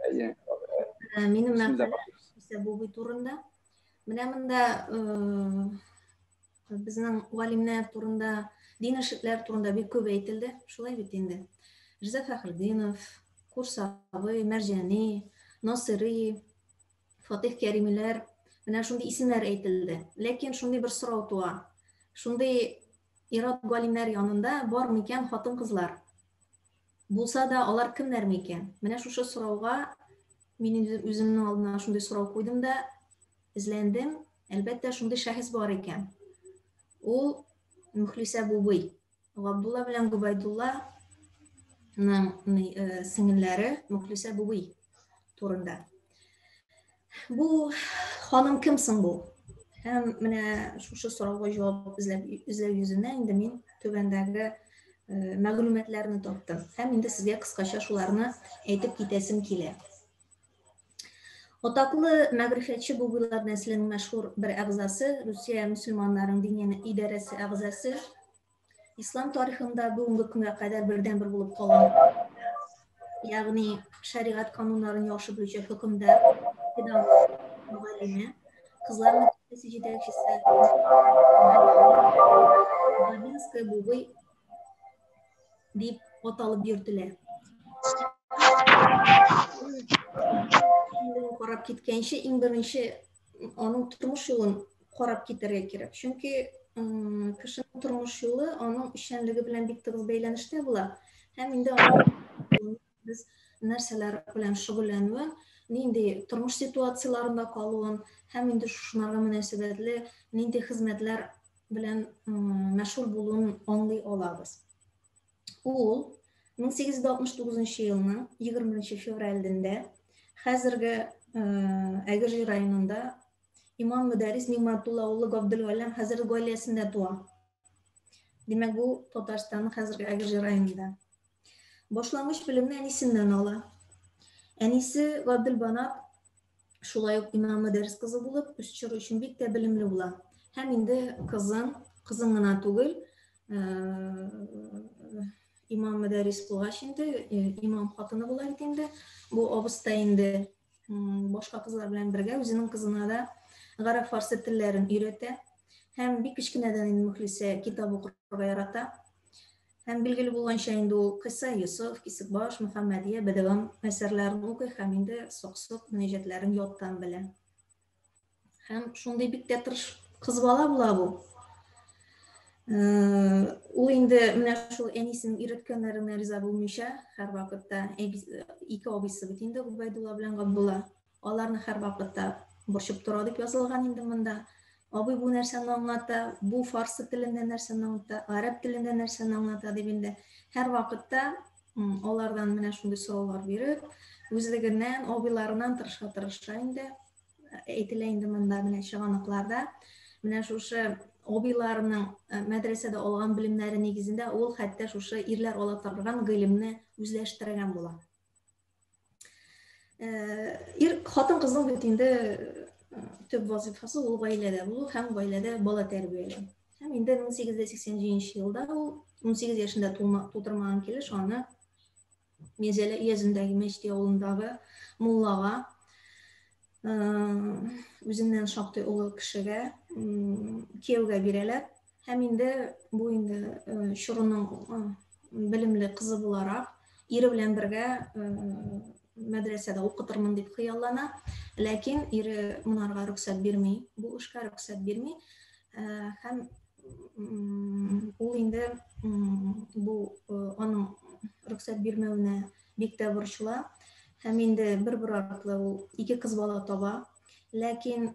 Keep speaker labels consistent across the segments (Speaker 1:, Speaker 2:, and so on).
Speaker 1: Әйе. Ә, минем мәкалә
Speaker 2: булу турында.
Speaker 1: Менә монда э, безнең галимнәр турында, дин эшлекләр турында бик күп әйтелде. Шулай бит инде. Риза Фәхрдинов, Курсавы, Мәрҗәни, Насыри, Фатих Кәримиләр, менә шундый исемнәр әйтелде. Ләкин шундый бер сорау туа. Шундый ират галимнәр янында бар микән хатын-кызлар? Булса да, алар кемнәр микән? Менә шушы сорауга мин үземнең алдына шундый сорау куйдым да эзләндем. Әлбәттә, шундый шәхес бар икән. Ул Мөхлисә Бубый. Габдулла белән Губайдулланың э, сеңелләре Мөхлисә Бубый. турында. Бу ханым кем соң бу? Һәм менә шушы сорауга җавап эзләп эзләү йөзенә инде мин түбәндәге мәгълүматларны таптым. Һәм инде сезгә кыскача шуларны әйтеп китәсем килә. Атаклы мәгърифәтче бу буйлар нәселенең мәшһүр бер әгъзасы, Русия мөселманнарын дини идарәсе әгъзасы, ислам тарихында бүгенге көнгә кадәр бердән бер булып калган ягъни шәригать кануннарын яхшы белүче хөкемдә мөгаллиме кызлар мәктәбесе җитәкчесе бабинская бугый дип аталып йөртелә карап киткәнче иң беренче аның тормыш юлын карап китәргә кирәк чөнки кешенең тормыш юлы аның эшчәнлеге белән бик тыгыз бәйләнештә була һәм инде без нәрсәләр белән шөгыльләнүен нинди тормыш ситуацияләрендә калуын һәм инде шушыларга мөнәсәбәтле нинди хезмәтләр белән мәшгуль булуын аңлый алабыз Ул 1869 елның 20 февралендә хәзерге Әгерҗе районында имам мөдәррис Нигматулла улы Габделгаләм хәзерге гаиләсендә туа. Димәк, бу Татарстанның хәзерге Әгерҗе районында. Башлангыч белемне әнисеннән ала. Әнисе Габделбанат Шулай ук имамы дәрес кызы булып, үз чоры өчен бик тә белемле була. Һәм инде кызың, кызың гына түгел, э, имам мәдәрис булгач инде, э, имам хатыны була бит инде. Бу абыстай инде башка кызлар белән бергә үзенең кызына да гарәп фарсы телләрен өйрәтә. Һәм бик кечкенәдән инде Мөхлисә китап укырга ярата. Һәм билгеле булганча инде ул Кыйса Йосыф, Кисекбаш, Мөхәммәдия, Бәдәвам әсәрләрен укый һәм инде соксык мөнәҗәтләрен яттан белә. Һәм шундый бик тә тырыш кыз бала була бу. Э, ул инде менә шул әнисенең өйрәткәннәренә риза булмыйча һәрвакытта ике абыйсы бит инде губайдулла белән габдулла Аларны һәрвакытта борчып тора дип язылган инде монда. Абый бу нәрсәне аңлата, бу фарсы телендә нәрсәне аңлата, гарәп телендә нәрсәне аңлата дип инде һәрвакытта алардан менә шундый сораулар биреп, үзлегеннән, абыйларыннан тырыша-тырыша инде әйтелә инде монда менә чыганакларда. Менә шушы абыйларының мәдрәсәдә алган белемнәре нигезендә ул хәтта шушы ирләр ала торган гыйлемне үзләштерәгән була. ир хатын кызның бит инде төп вазифасы ул гаиләдә булу һәм гаиләдә бала тәрбияләү һәм инде мең сигез йөз сиксән җиденче елда ул ун сигез яшендә тудырмаган килеш аны мизәлә өязендәге мәчти авылындагы муллага үзеннән шактый олы кешегә кияүгә бирәләр Һәм инде бу инде чорының белемле кызы буларак, ире белән бергә мәдрәсәдә укытырмын дип хыяллана. Ләкин ире монарга рөхсәт бирми, бу эшкә рөхсәт бирми. Һәм ул инде бу аның рөхсәт бирмәвенә бик тә борчыла. Һәм инде бер-бер артлы ул ике кыз бала таба. Ләкин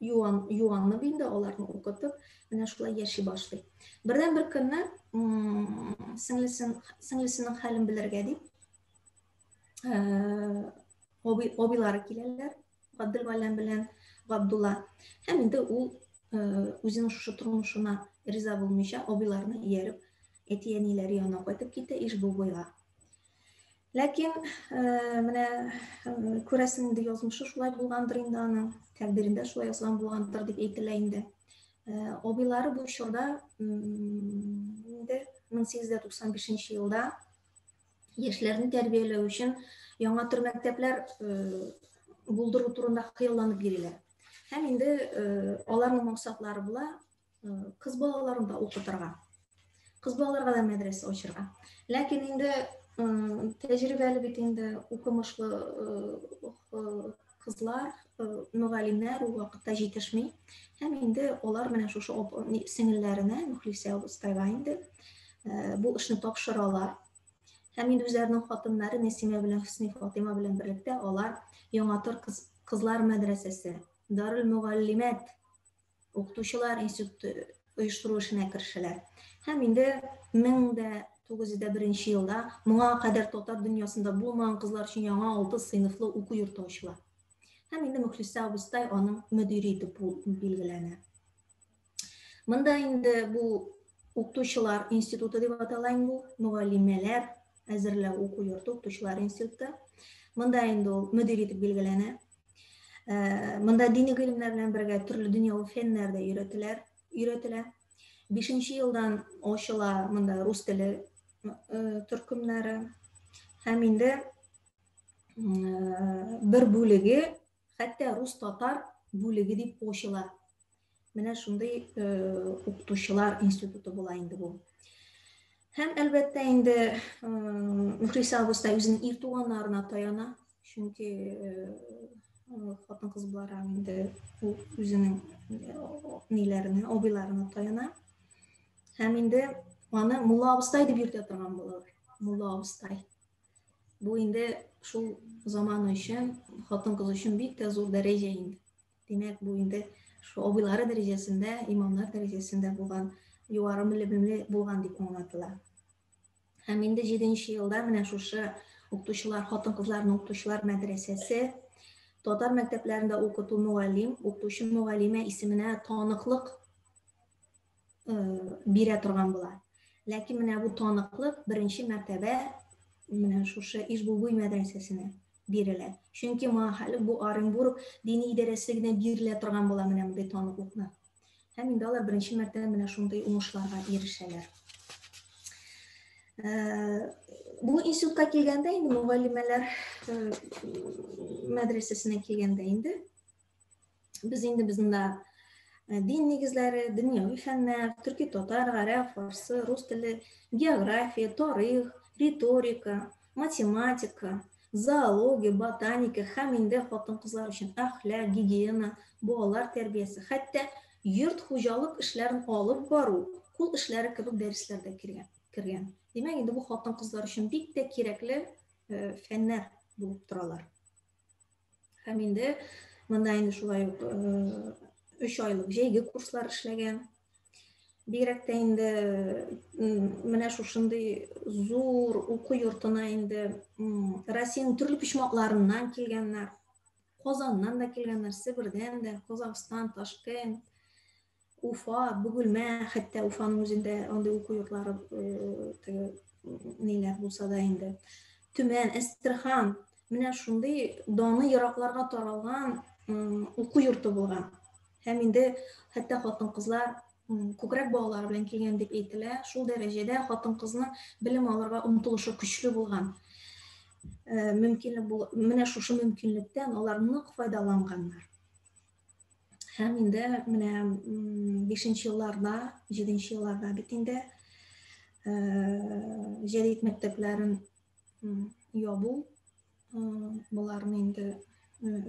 Speaker 1: Юан, юанны бит инде аларны укытып, менә шулай яши башлый. Бердән бер көнне сеңлесен, сеңлесенең хәлен белергә дип, оби, обилары киләләр, Габделгаләм белән Габдулла. Һәм инде ул үзенең шушы тормышына риза булмыйча, обиларны ияреп, әти-әниләре янына кайтып китә Ишбулбойга. Ләкин менә күрәсең инде язмышы шулай булгандыр инде аның, тәкъдирендә шулай язган булгандыр дип әйтелә инде. Абыйлары бу чорда инде 1895 елда яшьләрне тәрбияләү өчен яңа төр мәктәпләр булдыру турында хыялланып йөриләр. Һәм инде аларның максатлары була кыз балаларын да укытырга кыз балаларга да мәдрәсә ачырга ләкин инде тәҗрибәле бит инде укымышлы кызлар мөгаллимнәр ул вакытта җитешми һәм инде алар менә шушы сеңелләренә мөхлисә абыстайга инде бу эшне тапшыралар һәм инде үзләренең хатыннары нәсимә белән хөсни фатыйма белән берлектә алар яңа тор кызлар мәдрәсәсе дарул мөгаллимәт укытучылар институты оештыру эшенә керешәләр. Һәм инде 1901 елда моңа кадәр татар дөньясында булмаган кызлар өчен яңа 6 сыйныфлы уку йорты ачыла. Һәм инде Мөхлисә абыстай аның мөдире итеп билгеләнә. Монда инде бу укытучылар институты дип атала инде бу, мөгаллимәләр әзерләү уку йорты укытучылар институты. Монда инде ул мөдир итеп билгеләнә. Э, монда дини гыйлемнәр белән бергә төрле дөньяви фәннәр дә өйрәтеләр, өйрәтелә. 5 елдан ачыла монда рус теле э, төркемнәре. Һәм инде э, бер бүлеге, хәтта рус-татар бүлеге дип ачыла. Менә шундый укытучылар институты була инде бу. Һәм әлбәттә инде Мөхлисә абыстай үзенең ир туганнарына таяна, чөнки хатын кыз буларак инде үзенең ниләренә, абыйларына таяна. Һәм инде аны Мулла абыстай дип йөртә торган булалар. Мулла абыстай. Бу инде шул заман өчен, хатын кыз өчен бик тә зур дәрәҗә инде. Димәк, бу инде шул абыйлары дәрәҗәсендә, имамнар дәрәҗәсендә булган югары белемле булган дип аңлатыла. Һәм инде 7 елда менә шушы укытучылар, хатын-кызларның укытучылар мәдрәсәсе татар мәктәпләрендә укыту мөгаллим, укытучы мөгаллимә исеменә таныклык э, бирә торган була. Ләкин менә бу таныклык беренче мәртәбә менә шушы Ижбулгуй мәдрәсәсенә бирелә. Чөнки моңа хәл бу Оренбург дини идарәсе генә бирелә торган була менә мондый таныклыкны. Һәм инде алар беренче мәртәбә менә шундый уңышларга ирешәләр. Э, бу институтка килгәндә инде мөгаллимәләр э, мәдрәсәсенә килгәндә инде Без инде безнең дә э, дин нигезләре, дөньяви фәннәр, төрки, татар, гарәп, фарсы, рус теле, география, тарих, риторика, математика, зоология, ботаника һәм инде хатын-кызлар өчен әхлак, гигиена, балалар тәрбиясе, хәтта йорт хуҗалык эшләрен алып бару, кул эшләре кебек дәресләр дә кергән. кергән. Димәк, инде бу хатын-кызлар өчен бик тә кирәкле э, фәннәр булып торалар. Һәм инде монда инде шулай ук өч айлык җәйге курслар эшләгән бигрәк тә инде менә шушындый зур уку йортына инде россиянең төрле почмакларыннан килгәннәр казаннан да килгәннәр себердән дә казахстан ташкент Уфа, Бөгелмә, хәтта Уфаның үзендә андый уку йортлары теге ниләр булса да инде. Төмән, Әстерхан, менә шундый даны еракларга таралган уку йорты булган. Һәм инде хәтта хатын-кызлар күкрәк балалары белән килгән дип әйтелә. Шул дәрәҗәдә хатын-кызның белем алырга омтылышы көчле булган. Мөмкинлек менә шушы мөмкинлектән алар нык файдаланганнар. Һәм инде менә бишенче елларда, җиденче елларда бит инде э, җәдит мәктәпләрен ябу, э, боларны инде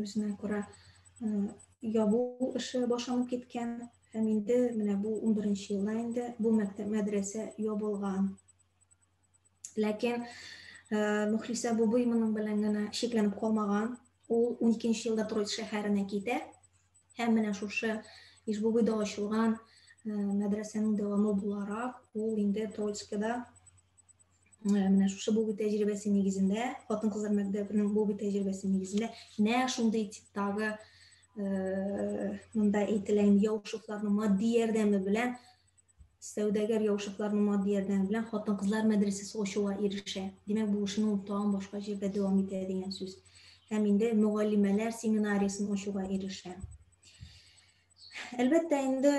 Speaker 1: үзенә күрә э, ябу эше башланып киткән. Һәм инде менә бу 11 елда инде бу мәктәп мәдрәсә ябылган. Ләкин э, Мөхлисә Бубый моның белән генә чикләнеп калмаган. Ул 12 елда Троиц шәһәренә китә һәм менә шушы Ишбубыйда ачылган э, мәдрәсәнең дәвамы буларак ул инде Троицкида менә шушы бубый тәҗрибәсе нигезендә хатын кызлар мәктәбенең бубый тәҗрибәсе нигезендә нәкъ шундый типтагы мында әйтелә инде яушевларның матди ярдәме белән Сәүдәгәр яучыкларның матди ярдәме белән хатын-кызлар мәдрәсәсе ачуга ирешә. Димәк, бу эшне ул тагын башка җирдә дәвам итә дигән сүз. Һәм инде мөгаллимәләр семинариясен ачуга ирешә. Әлбәттә, инде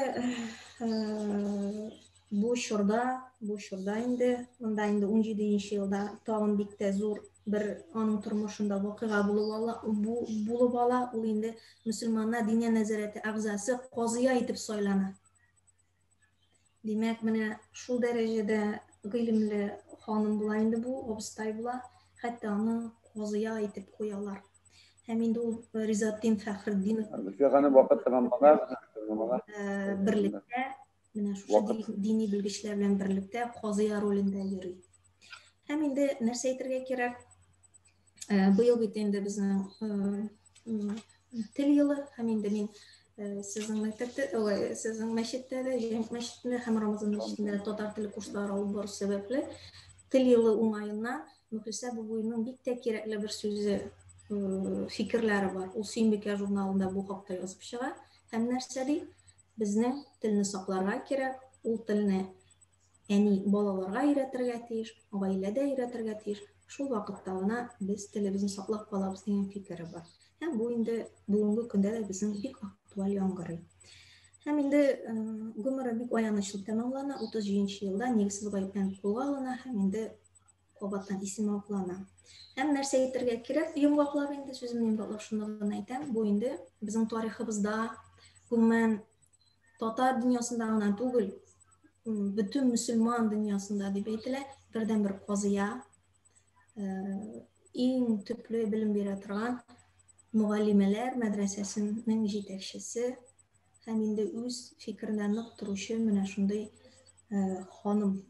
Speaker 1: бу чорда, бу чорда инде, монда инде 17 елда тагын бик тә зур бер аның тормышында вакыйга булып ала, бу, булып ала, ул инде мөселманнар диния нәзарәте әгъзасы казыя итеп сайлана. Димәк, менә шул дәрәҗәдә гыйлемле ханым була инде бу, абыстай була, хәтта аны казыя итеп куялар. Һәм инде ул Ризатдин Фәхретдинов берлектә, менә шушы дини белгечләр белән берлектә казыя ролендә йөри. Һәм инде нәрсә әйтергә кирәк? Э, быел бит инде безнең э, тел елы һәм инде мин э, сезнең мәктәптә ой сезнең мәчеттә дә җәмәгать мәчетендә һәм рамазан мәчетендә татар теле курслары алып бару сәбәпле тел елы уңаенна мөхлисә бабуйның бик тә кирәкле бер сүзе фикерләре бар ул сөембикә журналында бу хакта язып чыга һәм нәрсә ди безнең телне сакларга кирәк ул телне Әни балаларга өйрәтергә тиеш, гаиләдә өйрәтергә тиеш, шул вакытта гына без телебезне саклап калабыз дигән фикере бар. Һәм бу инде бүгенге көндә дә безнең бик актуаль яңгырый. Һәм инде э, гомере бик аянычлы тәмамлана, 37 елда нигезсез гаепләнеп кулга алына һәм инде кабаттан исем аклана. Һәм нәрсә әйтергә кирәк? Йомгаклар инде сүземне йомгаклап шуны гына әйтәм. Бу инде безнең тарихыбызда гомумән татар дөньясында гына түгел, бөтен мөселман дөньясында дип әйтелә, бердән бер казыя иң төпле белем бирә торган мөгаллимәләр мәдрәсәсенең җитәкчесе һәм инде үз фикеренә нык торучы менә шундый ханым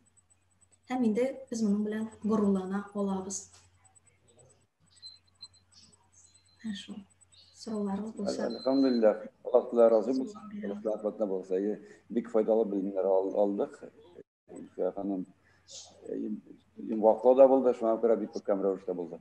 Speaker 1: Һәм инде без моның белән горурлана алабыз. Ә шул сорауларыгыз булса. Әлхәмдулиллах, Аллаһ
Speaker 2: Тәгалә разый булсын. Аллаһ рәхмәтенә булса, бик файдалы белемнәр алдык. Ханым, йомгаклау да булды, шуңа күрә бик күп рәвештә булды.